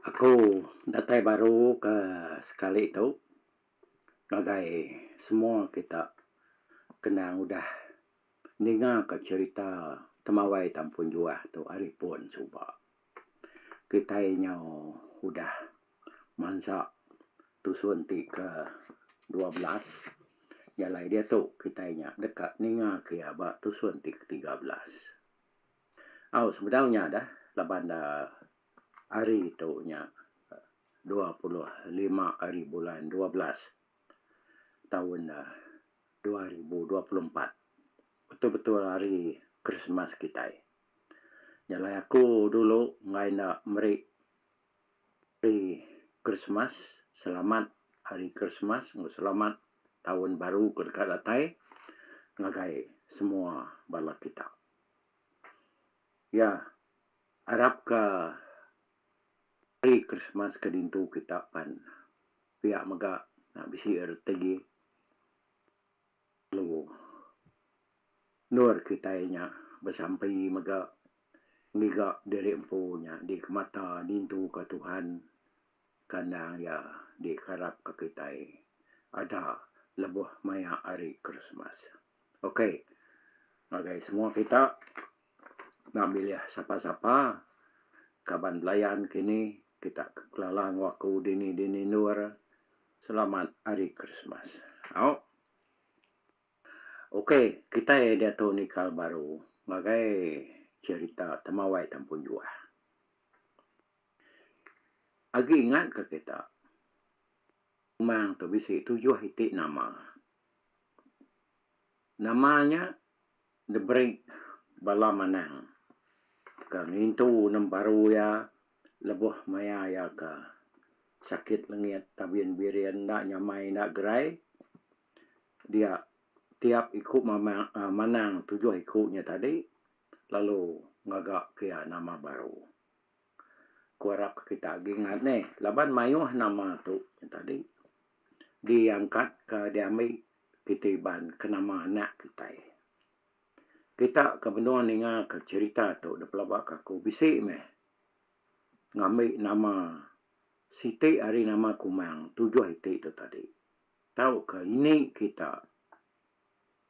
Aku datai baru ke sekali tu ngagai semua kita kena ngudah ninga ke cerita temawai Tampun Juah tu ari pun suba. Kitai nyau udah mansa tusun ti ke dua belas jalai diatu kitai nya deka ninga ke iya ba tusun ti ke tiga belas. Au sebedau nya deh laban da Hari tu nya dua puluh lima hari bulan dua belas taun dua ribu dua puluh empat betul-betul hari Krismas kitai. Jalai aku dulu enggai enda meri hari Krismas selamat hari Krismas enggau selamat taun baru ke deka datai ngagai semua bala kita. Ya. Arap ka hari Krismas ke dintu kita pan pia mega nya bisi reti lalu endur kitai nya besampi mega ngiga diri empu nya dikemata dintu ka Tuhan kandang iya dikarap ka kitai ada lebuh maya hari Krismas. Ok ngagai semua kita. Enda milih sapa-sapa kaban belayan kini kita ke Pelalang Waku dini dini endur selamat hari Krismas. Au ok kitai diatu nikal baru ngagai cerita Temawai Tempun Juah. Agi ingat ke kita umang tu bisi tujuh iti nama. Nama nya. The Brick bala manang ka ngintu nembaru iya lebuh maya iya ka sakit lengit Tabin Birin enda nyamai enda gerai dia tiap iku mamang aaa manang tujuh iku nya tadi lalu ngaga ke iya nama baru. Ku arap ka kita agi ngat neh laban mayuh nama tu nya tadi. diangkat ka diambi Kitai Iban ke nama anak kitai. Kita ke menua ninga ka cherita tu da pelaba ka aku bisi meh ngambi nama siti ari nama Kumang tujuh iti tu tadi tau ka ini kita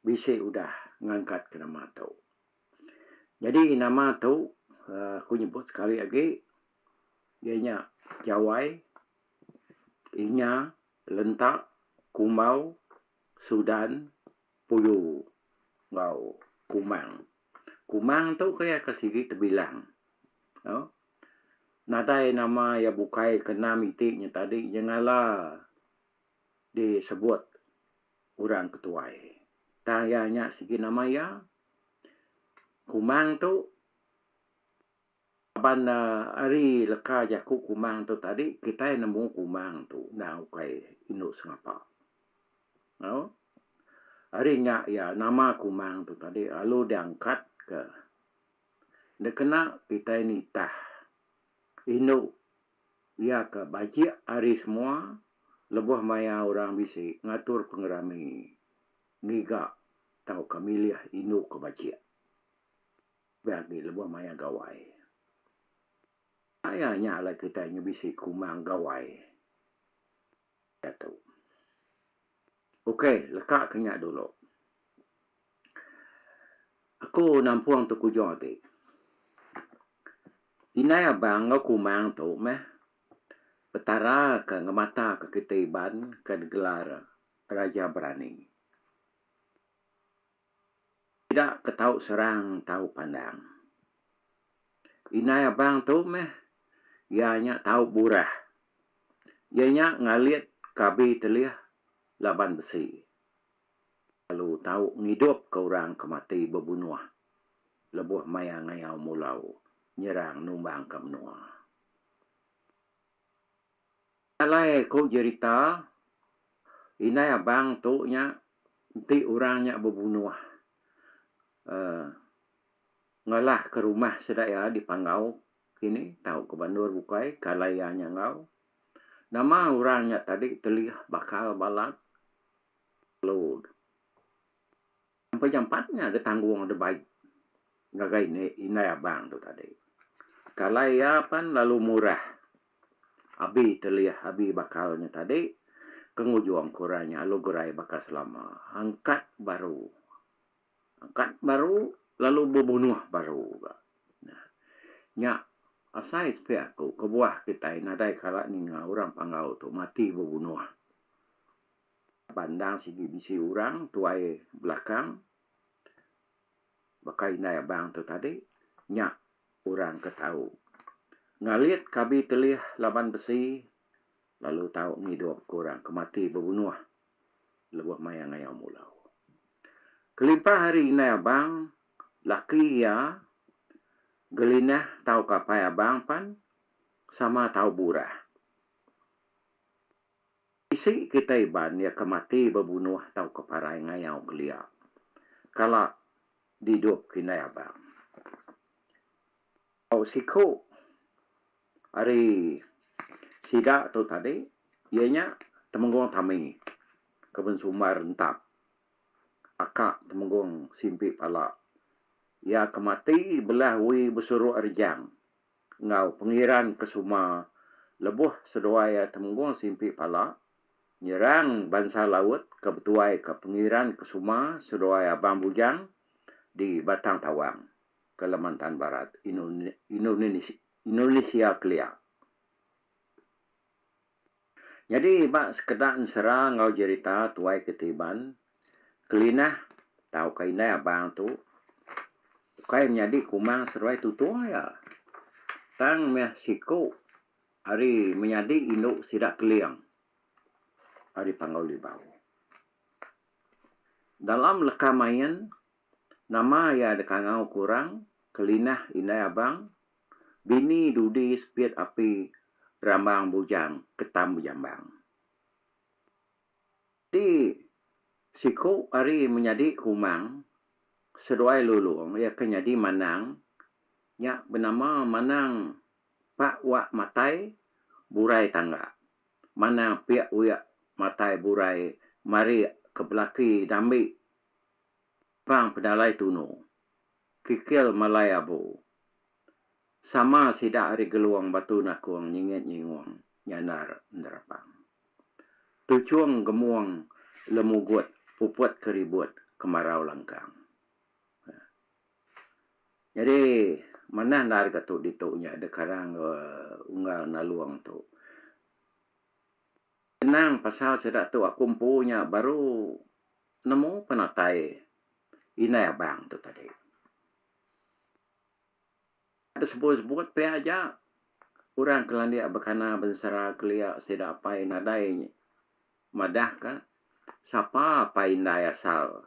bisi udah ngangkat ka nama tu. Nyadi nama tu aku nyebut sekali agi iya nya Jawai Inya lentak kumbau Sudan Puyu enggau Kumang. Kumang tu ke iya ke sigi tebilang. Nadai nama iya bukai ke enam iti nya tadi nyengala disebut orang ke tuai. Tang iya nya sigi nama iya Kumang tu. Laban ari leka jaku kumang tu tadi kitai nemu kumang tu enda ukai indu sengapa. Au. Ari nya iya nama kumang tu tadi lalu diangkat ke dikena kitai nitah indu iya ke bajik ari semua lebuh maya orang bisi ngatur pengerami ngiga tauka milih indu ke bajik. Lebih agi lebuh maya Gawai. Enda iya nya alai kitai ngebisi kumang Gawai diatu. Ok, leka ke nya dulu. Aku nampung tu kujung agi. Indai abang enggau kumang tu meh Petara ke ngemataka kitai Iban ke digelar Raja Berani. Sida ke tau serang tau pandang. Indai abang tu meh iya nya tau burah. Iya nya ngalit ke abi telih laban besi. Lalu tau ngidup ke orang ke mati bebunuh lebuh maya ngayau mulau nyerang numbang ke menua. Alai ku jerita, indai abang tu nya enti orang nya bebunuh uhh ngalah ke rumah sida iya di Panggau kini tau ke bandur bukai ke alai iya nya enggau nama orang nya tadi telih bakal balat lalu. Empai jampat nya betanggung deh baik ngagai inde indai abang tu tadi. Kalai iya pan lalu murah abi telih abi bakal nya tadi ke ngujung ke orang nya alu gerai baka selama angkat baru angkat baru lalu bebunuh baru ga. Nah nya asai sepiak aku kebuah kitai nadai kala ninga orang panggau tu mati bebunuh. Ba endang sigi bisi orang tuai belakang baka indai abang tu tadi nya orang ke tau ngalit ke abi telih laban besi lalu tau ngidup ke orang ke mati bebunuh lebuh maya ngayau mulau. Kelimpah ari indai abang, laki iya Gelinah tauka apai abang pan sama tau burah. Bisi kitai iban iya ke mati bebunuh tauka parai ngayau kelia. Kala diidupka indai abang. Tau siku ari sida tu tadi iya nya Temenggong Tami ke bensumbar rentap aka Temenggong Simpi Pala. Iya ke mati belah Wee Besuruk Rejang enggau pengeran ke suma lebuh seduai iya Temenggong Simpi Pala nyerang bansa laut ke betuaika pengeran ke suma seduai Abang Bujang di Batang Tawang, Kalimantan Barat, Indonesia kelia. Nyadi ba sekeda ensera enggau jerita tuai ke ti Iban, Kelinah tauka indai abang tu ukai menyadi kumang seruai tutung aja tang meh siku ari menyadi indu sida Keling ari Panggau Libau. Dalam leka main nama iya dikangau ke orang Kelinah indai abang Bini dudi sepit api rambang bujang ketam bejambang. Di siku ari menyadi kumang seduai lulung iya ke nyadi manang nya benama manang pak wak matai burai tangga. Manang pik wik matai burai marik ke belaki dambi pang penalai tunu. Kikil malai abu. Sama sida ari Geluang Batu Nakong nyingit nyingung nyandar nerapang. Tuchong Gemong lemugut puput ke ribut ke marau langkang. Nyadi manah endar ga tu ditu nya deh karang ga unggal Nalong tu. Kenang pasal sida tu aku empu nya baru nemu penatai Indai abang tu tadi. Enda sebut-sebut pia aja orang ke landik bekana bensera kelia sida apai nadai madahka sapa apai indai asal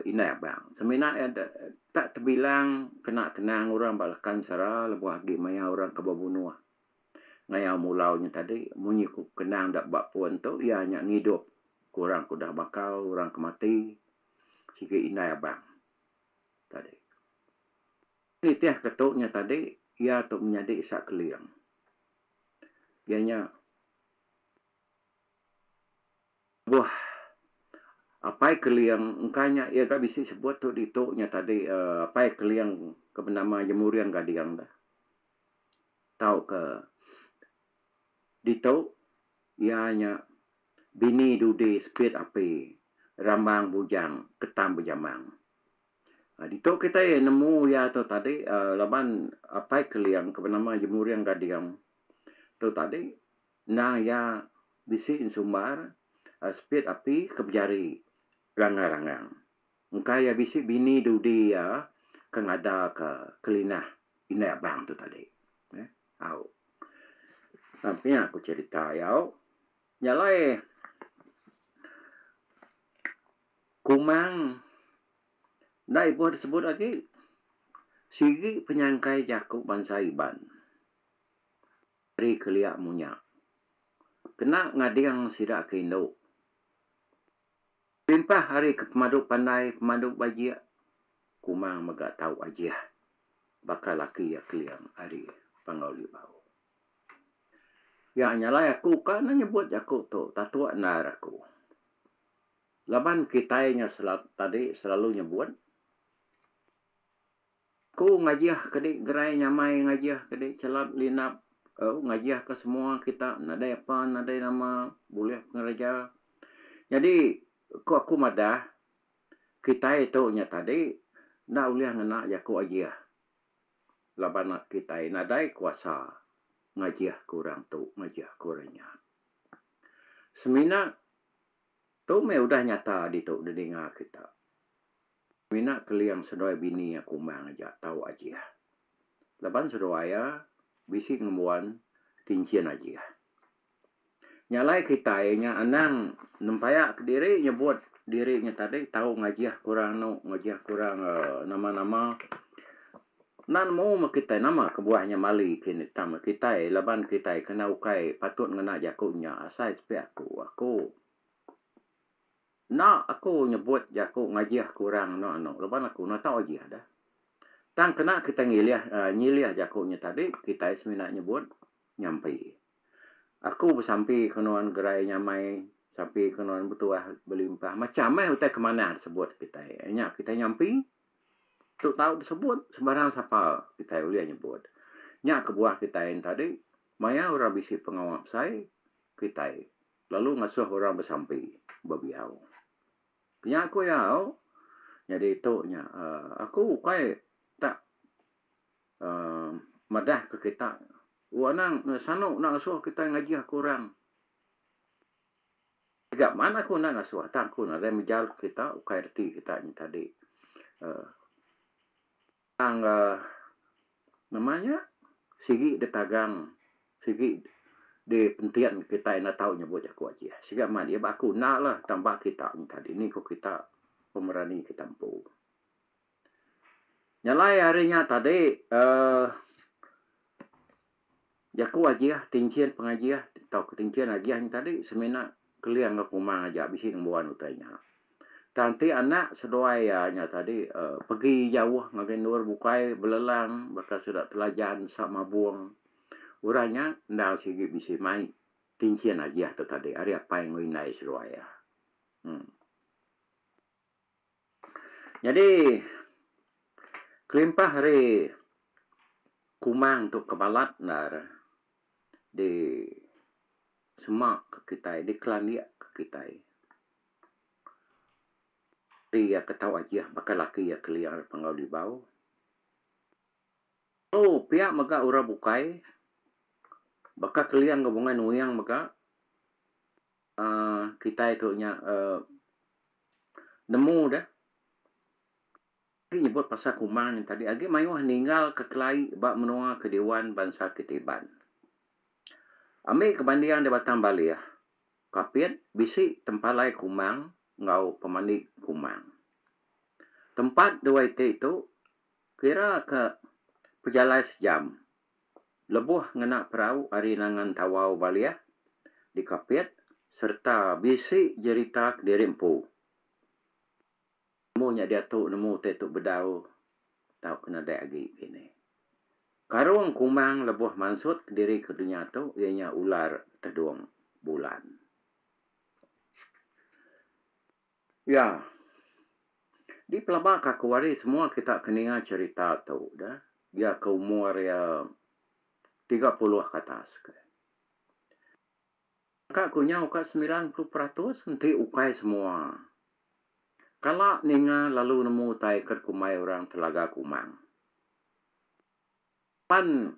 indai abang. Semina iya da tak tebilang kena kenang orang ba laka ensera lebuh agi maya orang ke bebunuh. ngayau mulau nya tadi munyi ku kenang da ba pun tu iya nya ngidup ku orang ke udah makau orang ke mati sigi indai abang tadi. Nitih ke tu nya tadi iya tu menyadi sa keling iya nya lebuh apai keling engka nya iya ga bisi sebut tu ditu nya tadi apai keling ke benama Jemuring Gading tu. tauka ditu iya nya bini dudi sepit api rambang bujang ketam bejamang. Ditu kitai nemu iya tu tadi laban Apai Keling ke benama Jemuring Gading tu tadi endang iya bisi ensumbar sepit api ke bejari ranggang-ranggang. Engka iya bisi bini dudi iya ke ngadaka kelinah indai abang tu tadi. Au. Tang pia ku cerita iya, au. Nya alai Kumang enda ibuh disebut agi. Sigi penyangkai jaku bansa Iban ari kelia munya kena ngading sida ke indu. Kelimpah ari ke pemadu pandai, pemadu bajik, kuma mega tau ajih baka laki iya Keling ari Panggau Libau. Iya nya alai aku ka ne nyebut jaku tu tatuk endar aku. Laban kitai nya selalu tadi selalu nyebut. Ku ngajih kedi gerai nyamai ngajih kedi chelap linap au ngajih ke semua kita nadai apa nadai nama bulih pengereja. Nyadi ku aku madah kitai tu nya tadi enda ulih ngena jaku ajih laban kitai nadai kuasa ngajih ke orang tu ngajih ke orang nya. Semina tu meh udah nyata ditu di ninga kita. Mina Keling seduai bini iya kumbang aja tau Ajih. Laban seduai iya bisi ngembuan kinchin Ajih. Nya alai kitai inya anang nempaya ka diri nyebut diri inya tadi tau ngajih kurang anu ngajih kurang nama-nama. Enda nemu meh kitai nama kebuah inya mali kini tang kitai laban kitai kena ukai patut ngena jaku inya asai sepi aku aku. Enda aku nyebut jaku ngajih ke orang anu anu laban aku enda tau ajih deh. Tang kena kitai ngilih uhh nyilih jaku nya tadi kitai semina nyebut nyampi. Aku besampi ke nuan gerai nyamai, besampi ke nuan betuah belimpah macam meh utai ke manah disebut kitai. Nya kitai nyampi tu tau disebut sembarang sapa kitai ulih nyebut. Nya kebuah kitai yen tadi maya orang bisi pengawa besai kitai. Lalu ngasuh orang besampi bebiau. Nya aku iya au. Nyadi tu nya aku ukai tak uhh madah ke kita. U anang enda sanu enda ngasuh kita ngajih aku orang. Tiga man aku enda ngasuh tang aku nadai mejal ke kita ukai reti kita nya tadi uhh. Tang ga ngemai nya sigi ditagang sigi dipenting kita enda tau nyebut jaku Aceh sigi amat iya ba aku enda lah tang ba kita nyengka dini ku kita pemerani kita empu. Nyalai ari nya tadi uhh. Jaku agih, tinchin pengagih tauka tinchin agih nya tadi semina keling enggau kumang aja bisi ngembuan utai nya. Tang ti anak seduai iya nya tadi uhh pegi jauh ngagai endur bukai belelang baka sida Telajan, Nesa Mabong. Orang nya endang sigi bisi mai tinchin agih tu tadi ari apai enggau indai seduai iya. Uhh. Nyadi kelimpah ari kumang tu ke balat enda re di semak ke kitai di kelandik ke kitai ti iya ke tau ajih baka laki iya kelia ari Pengerau Libau. Telo pia mega orang bukai baka kelia enggau Bungai Nuyang mega. kitai tu nya nemu deh ti nyebut pasal kuma nya tadi agi mayuh ninggal ka kelai ba menua ke diwan bansa ti Iban. Ami ke banding di Batang Baleh Kapit bisi tempalai kuma enggau pemandi kuma. Tempat dua iti tu kira ka pejalai sejam lebuh ngena perau ari nangan Tawau Balih di Kapit sereta bisi jerita kediri empu. Nemu nya diatu nemu utai tu bedau tau ke nadai agi kini. Karung kumang lebuh mansut kediri ke dunya tu iya nya ular tedung bulan. Ya. Dipelabaka aku ari semua kita ke ninga cherita tu dah dia ke umur iya tiga puluh ke atas ke. Ka ku nyau ka semilan puluh peratus enti ukai semua kala ninga lalu nemu utai ke dikumbai orang telaga kumang. Pan.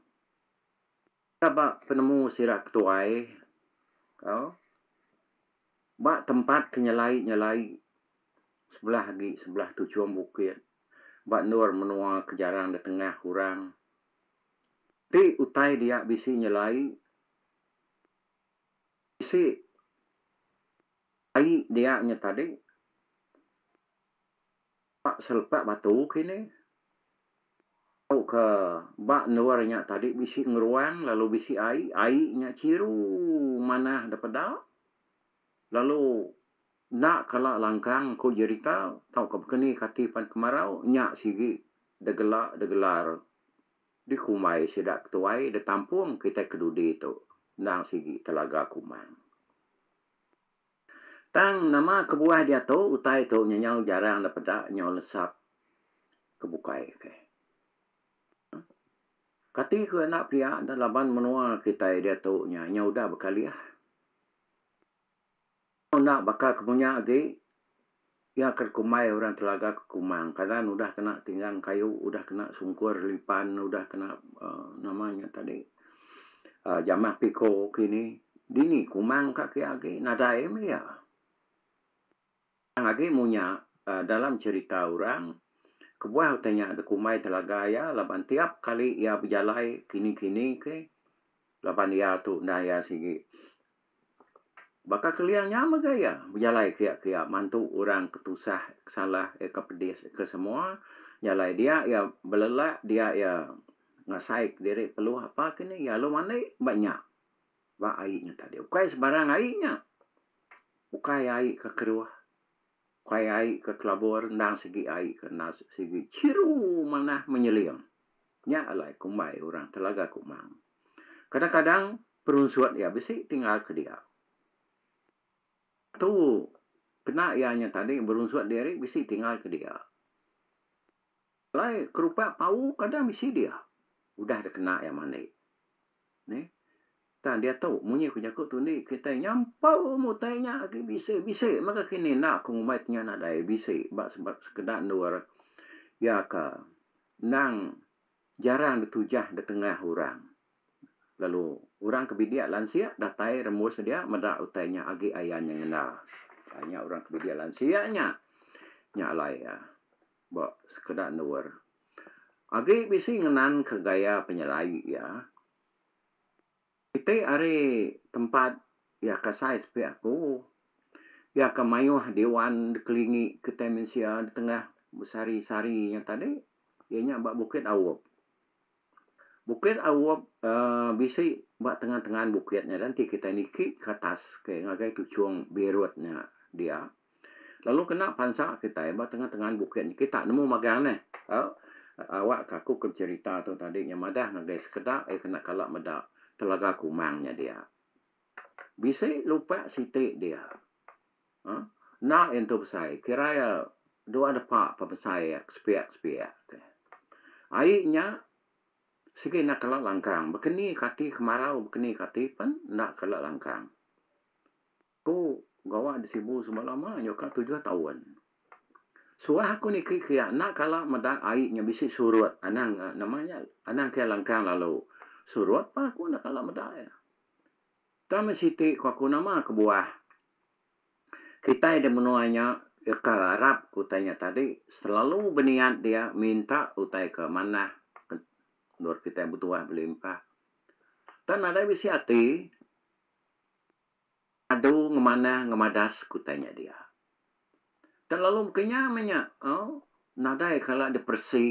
Ka ba penemu sida ke tuai ko ba tempat ke nyelai-nyelai sebelah agi sebelah tuchum bukit ba endur menua ke jarang ditengah orang ti utai dia bisi nyelai bisi ai dia nya tadi. Ba selepak batu kini, tu ke ba endur nya tadi bisi ngeruang lalu bisi ai, ai nya chiru manah da peda lalu enda kala langkang ku jerita tauka bekeni kati pan kemarau nya sigi da gela da gelar dikumbai sida ke tuai da tampung kitai ke dudi tu endang sigi Telaga Kumang. Tang nama kebuah diatu utai tu nyenyau jarang da peda nyau lesap ke bukai ke. Kati ku enda pia da laban menua kitai diatu nya nyau udah bekalih. Enda baka kemunya agi. Iya ke kumbai orang telaga ke Kumang kanan udah kena tinggang kayu, udah kena sungkur lipan, udah kena nama nya tadi jamah piko kini. Dini Kumang ka kiya agi nadai meh iya. Tang agi munya dalam cerita orang kebuah utai nya da kumbai telaga iya laban tiap kali iya bejalai kini-kini ke laban iya tu enda iya sigi Baka kelia nya mega iya bejalai kiya-kiya mantu orang ke tusah, ke salah, ke pedis, ke semua jalai dia iya belelak dia iya ngasai kediri perlu apa kini iya lalu mandi ba nya ba ai nya tadi ukai sebarang ai nya ukai ai ke keruh. Ukai ai ke kelabur endang sigi ai ke enda sigi chiru manah menyeling. Nya alai kumbai orang Telaga Kumang. Kadang-kadang perunsut iya bisi ti ngarapka dia. Tu kena iya nya tadi berunsut diri bisi ti ngarapka dia. Alai kerupak pau kada bisi dia. Udah da kena iya mandi. Neh. Tang diatu munyi ku jaku tu indi kitai nyampau ilmu utai nya agi bisi bisi mega kini enda ku ngumbai ti nya nadai bisi ba sebab sekeda endur iya ka endang jarang ditujah da tengah orang lalu orang ke bidik lansik datai rembus sedia meda utai nya agi ayan nya ngenda. Nya orang ke bidik lansik nya. Nya alai iya. ba sekeda endur agi bisi ngenanka gaya penyelai iya. Iti ari tempat iya ke sai sepi aku. Iya ke mayuh diwan dikelingi kitai mensia di tengah besari-sari nya tadi iya nya ba Bukit Aup. Bukit Awup bisi ba tengan-tengan bukit nya enti kitai niki ke atas ngagai tuchung Beirut nya dia lalu kena pansa kitai ba tengan-tengan bukit nya kita nemu magang neh awak ka aku ke cherita tu tadi nya madah ngagai sekeda iya kena kala meda Telaga Kumang nya dia. Bisi lupak siti dia. Enda intu besai kira iya dua depa pa besai iya sepiak sepiak ti. Ai nya sigi enda kala langkang bekeni ka ati kemarau bekeni ka ati pen enda kala langkang. Ku gawa di Sibu semalam ah nya ka tujuh taun. Suah aku niki ke iya enda kala meda ai nya bisi surut anang nama nya anang ke langkang lalu. Surut pun aku enda kala meda iya. Tama siti ko aku nama kebuah kitai di menua nya deka arap ke utai nya tadi selalu beniat dia minta utai ke manah endur kitai betuah belimpah tang nadai bisi ati adu ngemanah ngemadas ke utai nya dia. Telalu kenya meh nya nadai kala depresi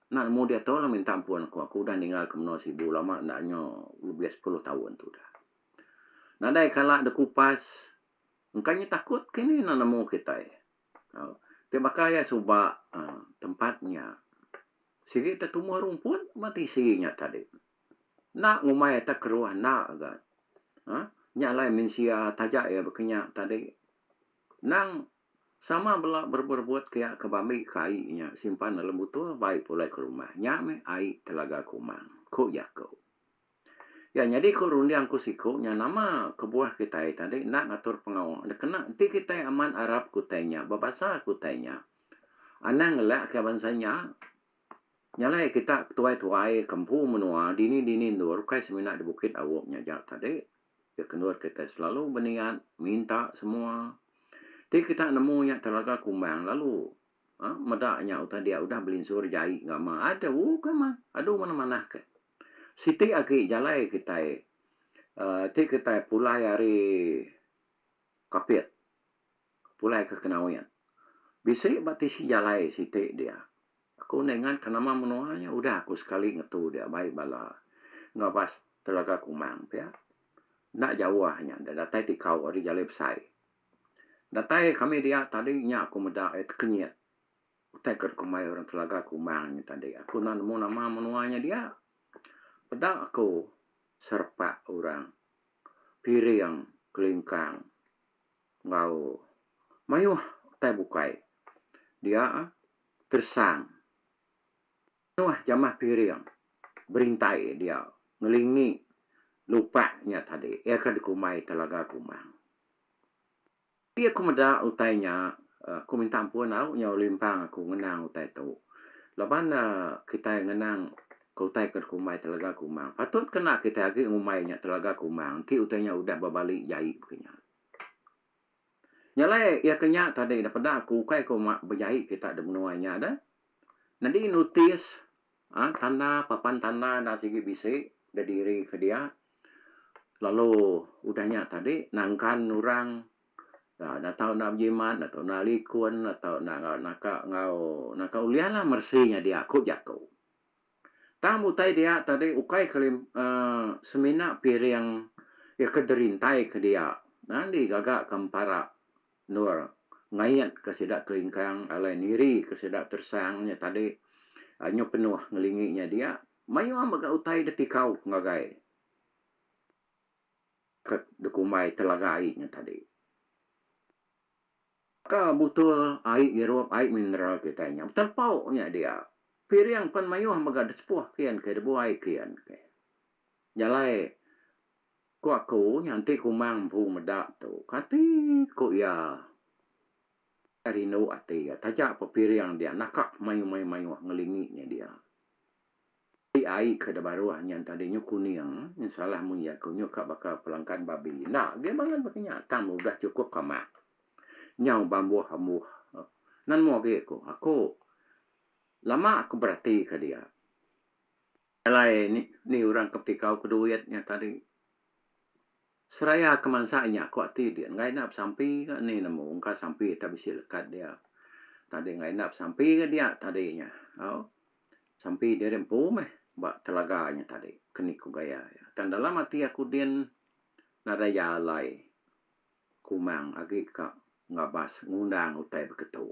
enda nemu diatu lah minta ampun aku. Aku udah ninggal ke menua Sibu lama enda nyo lebih sepuluh taun tu udah. Nadai kala dekupas engka nyo takut ke ni enda nemu kitai. Ti baka iya suba tempat nya sigi tetumbuh rumput ba tisi nya tadi. Enda ngumbai atas keruah enda ga. Nya alai mensia taja iya bekenya tadi. Nang sama bela berebut-rebut kia ke bambi ke ai nya simpan dalam butul bai pulai ke rumah. Nya meh ai Telaga Kumang, ku jaku. Iya nyadi ku runding ku siku nya nama kebuah kitai tadi enda ngatur pengawa enda kena enti kitai amat arap ke utai nya bebasa ke utai nya anang ngelak ke bansa nya nyalai kita ke tuai-tuai ke empu menua dini-dini endur ukai semina di Bukit Awok nya aja tadi. Ke kendur kitai selalu beniat minta semua ti kita nemu nya telaga kumbang lalu a meda nya utai dia udah belinsur jai ngama adu ke mah adu manah-manah ke. Siti agi jalai kitai a ti kitai pulai ari Kapit pulai ke Kenawin. Bisi ba tisi jalai siti dia. Aku enda ingat ka nama menua nya udah aku sekali ngetu dia mai bala enggau bas Telaga Kumang pia. Enda jauh nya enda datai tikau ari jalai besai. Datai kami dia tadi nya aku meda iya tekenyit. Utai ke deka mai orang Telaga Kumang nya tadi aku enda nemu nama menua nya dia. Peda aku serepak orang Piring, Kelingkang. enggau mayuh utai bukai dia tersang mayuh jamah piring berintai dia ngelingi lupak nya tadi iya ke dikumbai Telaga Kumang. Agi aku meda utai nya aku minta ampun au nyau limpang aku ngenang utai tu laban kitai ngenang ke utai ke dikumbai Telaga Kumang patut kena kitai agi ngumbai nya Telaga Kumang enti utai nya udah bebali jai baka nya. Nya alai iya ke nya tadi dah peda aku ukai ku ma bejai kita di menua nya dah. Nyadi notis aaa tanda papan tanda enda sigi bisi da diri ke dia lalu udah nya tadi nangkan orang aaa enda tau enda bejimat enda tau enda likun enda tau enda naka enggau naka ulih lah meresi nya dia ku jaku. Tang utai dia tadi ukai kali semina piring iya ke derintai ke dia tang di gaga ke empara endur ngait ke sida kelingkang alai niri ke sida tersang nya tadi nyu penuh ngelingi nya dia mayuh mega utai da tikau ngagai ke dikumbai telaga ai nya tadi. Ka butul ai ngirup ai mineral kitai nya beterpau nya dia. Piring pen mayuh mega desepuh kin ke debuai kin ke. Jalai ku aku nya enti kumang empu meda tu kati ku iya kai rindu ati iya taja pe piring dia naka mayuh mayuh mayuh ngelingi nya dia. Ti ai ke da baruh nyan tadi nyu kuning nyu salah mun iya ko nyu ka baka pelangkan babi enda agi bangat baka nya tang ba udah chukup ka mak nyau ba mbuh ambuh nan moh agi ko ako lama ko berati ka dia alai ni orang ke petikau ke duit nya tadi. Seraya ke mansa inya ku ati dia enggai enda besampi ka ni nemu engka sampi tak bisi lekat dia tadi enggai enda besampi ka dia tadi nya au sampi diri empu meh ba telaga nya tadi ke ni ku gaya iya tang dalam ati aku din nadai iya alai kumang agi ka ngabas ngundang utai beketu.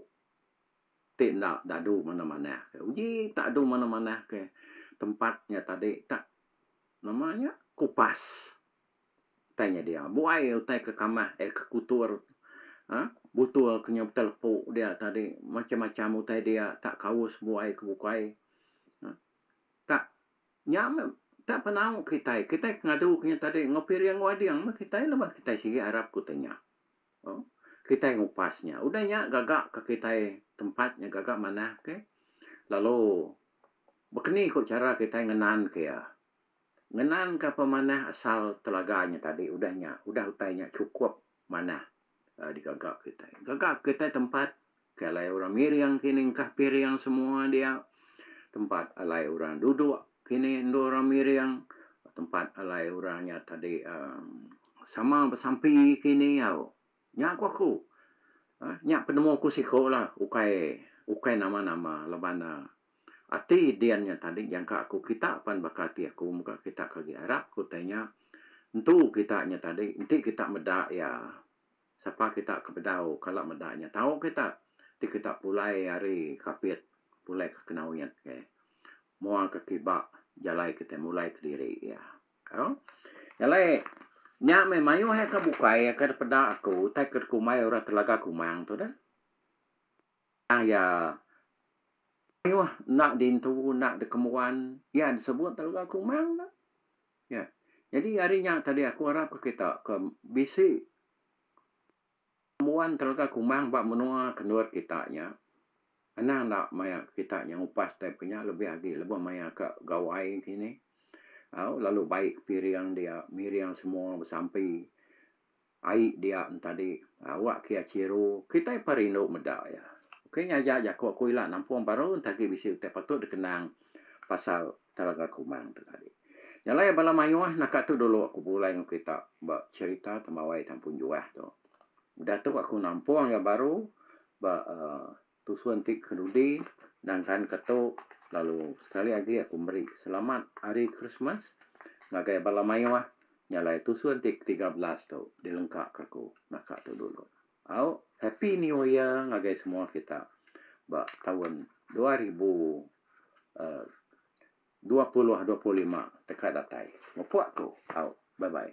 Ti enda dadu manah-manah ke uji tadu manah-manah ke tempat nya tadi tak nama nya kupas utai nya dia buai utai ke kamah eh ke kutur aaa butul ke nyau betelepu dia tadi macam-macam utai dia tak kaus buai ke bukai aaa tak nya meh tak penau kitai, kitai ke ngadu ke nya tadi enggau piring enggau ading meh kitai lebuh kitai sigi arap ke utai nya. Au, kitai ngupas nya. Udah nya gaga ka kitai tempat nya gaga manah ke. Lalu bekeni ku chara kitai ngenan ke iya. Ngenan ka pemanah asal telaga nya tadi udah nya, udah utai nya chukup manah digaga kitai. Gaga kitai tempat Ke alai orang miring kini engkah piring semua dia. Tempat alai orang duduk kini endur orang miring. Tempat alai orang nya tadi uhh sama besampi kini au. Nya ku aku. uhh nya penemu aku siku la ukai ukai nama nama laban uhh ati din nya tadi jangka aku kita pan baka ati aku mega kita ke agi arap ku utai nya entu kita nya tadi enti kita meda iya. Sapa kita ke bedau kala meda nya tau kita ti kita pulai ari kapit pulai ke kenawit ke mua ke kiba jalai kitai mulai kediri iya au jalai nya meh mayuh iya ke bukai iya ke peda aku utai ke kumbai orang telaga kumang tu deh. Tang iya mayuh enda diintu enda dikemuan iya disebut Telega Kumang tu. Ya. Jadi ari nya tadi aku arapka kita ke bisi ngembuan Telega Kumang ba menua kendur kita nya anang enda maya kita nya ngupas time ke nya lebih agi lebuh maya ke gawai kini au lalu bai ke piring dia miring semua besampi Ai dia entadi awak kia chiru kitai pa rindu meda iya. Ukai nya aja jaku aku ila nampung baru enti agi bisi utai patut dikenang pasal Telaga Kumang tu tadi. Nyalai bala mayuh naka tu dulu aku pulai enggau kita ba cherita Temawai Tampun Juah tu. Udah tu aku nampung iya baru ba Tusu enti ke dudi nangkan ke tu lalu sekali agi aku meri selamat hari Christmas ngagai bala mayuh nya alai tusu enti ke tiga belas tu dilengka ke aku naka tu dulu. Au happy new year ngagai semua kita ba taun dua ribu uhh dua puluh dua puluh lima te ka datai. Mupok aku. Au bye bye.